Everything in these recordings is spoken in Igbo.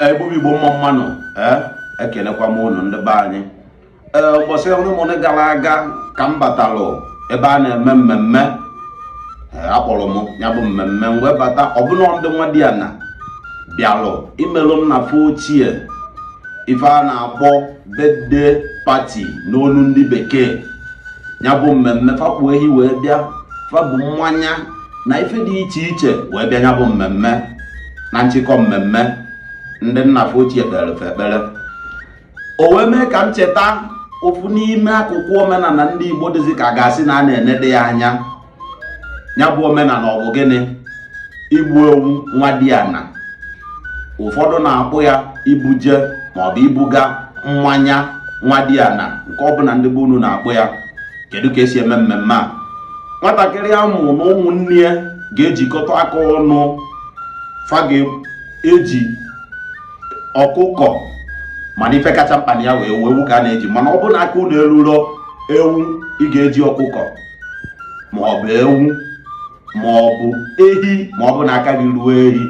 igbo bụ igbo mma mma nụ eh, ekelekwa m ụnụ ndị be anyị ee eh, ụbọchị onemone gara aga ka m batalụ ebe a na-eme mmemme eh, akpọrọ m ya bụ mmemme m wee bata ọ bụ na ndị nwadiana bịalụ imelụ nna fa ochie ife a na-akpọ birthday party n'onu ndị bekee ya bụ mmemme fa kpụ ehi wee bịa fa bu mmanya na ife dị iche iche wee bịa ya bụ mmemme na nchịkọ mmemme ndị nna fa ochie kpere fa ekpere o wee mee ka m cheta ofu n'ime akụkụ omenala ndị Igbo dịzi ka a ga-asị na a na-enede ya anya ya bụ omenala ọ bụ gịnị igbu ewu nwadiana ụfọdụ na-akpọ ya ibuje maọbụ ibuga mmanya nwadiana nke ọbụla ndị be unu na-akpọ ya kedu ka esi eme mmemme a nwatakịrị a mụ na ụmụnne ya ga-ejikọta aka ọnụ fa ga-eji ọkụkọ mana ife kacha mkpa na ya wụ ewu ewu ka a na-eji mana ọ bụrụ na aka unu eruro ewu ị ga-eji ọkụkọ ma ọ bụ ewu ma ọ bụ ehi ma ọ bụ na aka gị ruo ehi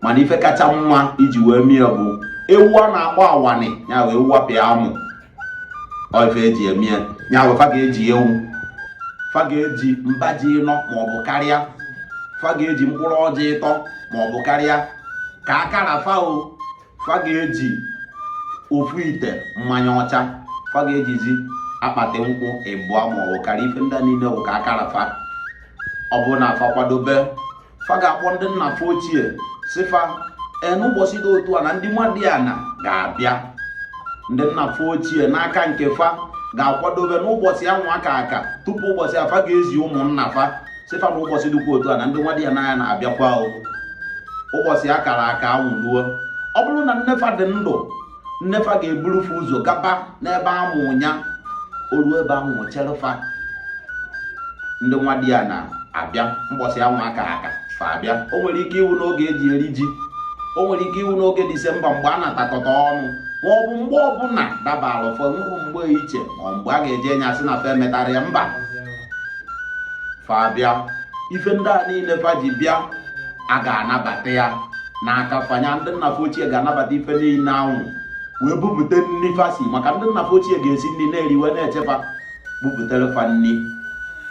mana ife kacha mma iji wee mee ya bụ ewu a na-akpọ awani ya wụ ewu apịa amụ ife eji eme ya ya wụ fa ga-eji ewu fa ga-eji mba ji ịnọ ma ọ bụ karịa fa ga-eji mkpụrụ ọjị ịtọ ma ọ bụ karịa ka aka ra fa o fa ga-eji ofu ite mmanya ọcha fa ga-ejizi akpati nkwụ ịbụọ ma ọ bụ karịa ife ndị a niile bụ ka aka ra fa ọ bụ na fa kwadobe fa ga-akpọ ndị nna fa ochie sị fa n'ụbọchị dị otu a na ndị nwadiana ga-abịa ndị nna fa ochie n'aka nke fa ga-akwadobe n'ụbọchị anwa a ka aka tupu ụbọchị a fa ga-ezi ụmụnna fa sị fa na ụbọchị dịkwa otu a na ndị nwadiana anyị na-abịakwa ụbọchị a kara aka anwụ ruo ọ bụrụ na nne fa dị ndụ nne fa ga-eburu fa ụzọ gaba n'ebe a mụ nya o ruo ebe ahụ chere fa ndị nwadiana abịa mbọsị anwụ a ka aka fa abịa o nwere ike ịwụ n'oge eji eri ji o nwere ike ịwụ n'oge disemba mgbe a natakọta ọnụ ma ọ bụ mgbe ọbụla dabara ụfọdụ nwụrụ mgbe iche ma mgbe a ga-eji enye asị na fa emetara ya mba fa abịa ife ndị a niile fa ji bịa a ga-anabata ya n'aka fa nya ndị nna fa ochie ga-anabata ife niile anwụ wee bupụta nri fa si maka ndị nna fa ochie ga-esi nri na-eri wee na-eche fa bupụtara fa nri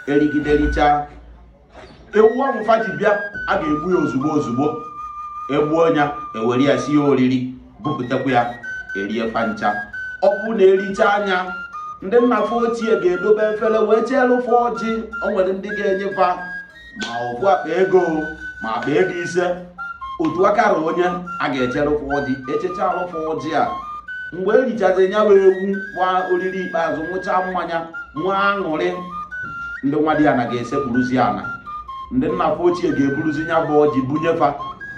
erigide richaa ewu ahụ fa ji bịa a ga-egbu ya ozugbo ozugbo egbuo ya ewere ya sie oriri bupụtakwa ya erie fa ncha ọ bụ na ericha nya ndị nna fa ochie ga-edobe efere wee cheeru fa ọjị o nwere ndị ga-enye fa ma ofu akpa ego ma akpa ego ise otu aka ra onye a ga-echeru fa ọjị echechalụ fa ọjị a mgbe erichazi ya bụ ewu gba oriri ikpeazụ nwụcha mmanya nwee aṅụrị ndị nwadiana ga-esekpuruzi ana ndị nna fa ochie ga-eburuzi ya bụ ọjị bunye fa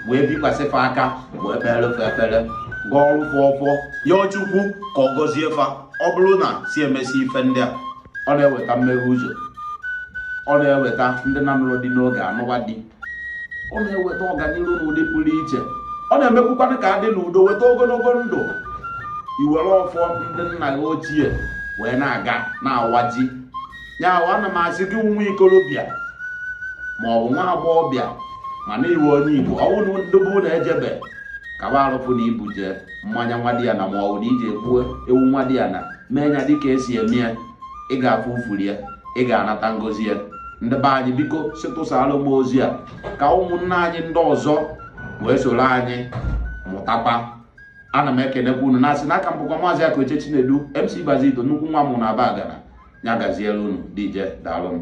wee bikwasị fa aka wee kpeere fa ekpere gọọrụ fa ọfọ yọọ chukwu ka ọ gọzie fa ọ bụrụ na si emesi ife ndị a ọ na-eweta mmeghe ụzọ ọ na-eweta ndị na-anụrọ di n'oge anụwa di ọ na-eweta ọganihu n'ụdị pụrụ iche ọ na-emekwukwanụ ka adị n'udo weta ogologo ndụ i were ọfọ ndị nna gị ochie wee na-aga na-awaji ya bụ ana m asị gị bụ nwa ikorobịa ma ọ bụ nwa agbọghọbịa mana ị bụ onye igbo ọ bụ na ndị be unu ejebe kaba arụ fụ na i bujee mmanya nwadiana ma ọ bụ na i jee gbuo ewu nwadiana mee ya dịka esi eme ya ị ga-afụ ufuru ya ị ga-anata ngozi ya ndị be anyị biko sịtụsara m ozi a ka ụmụnna anyị ndị ọzọ wee soro anyị mụtakwa ana m ekenekwa unu na-asị na aka m bụkwa maazị Akaoche Chinedu MC Bazito nnukwu mmanwụ na Abagana ya gaziere unu deeje daalụnụ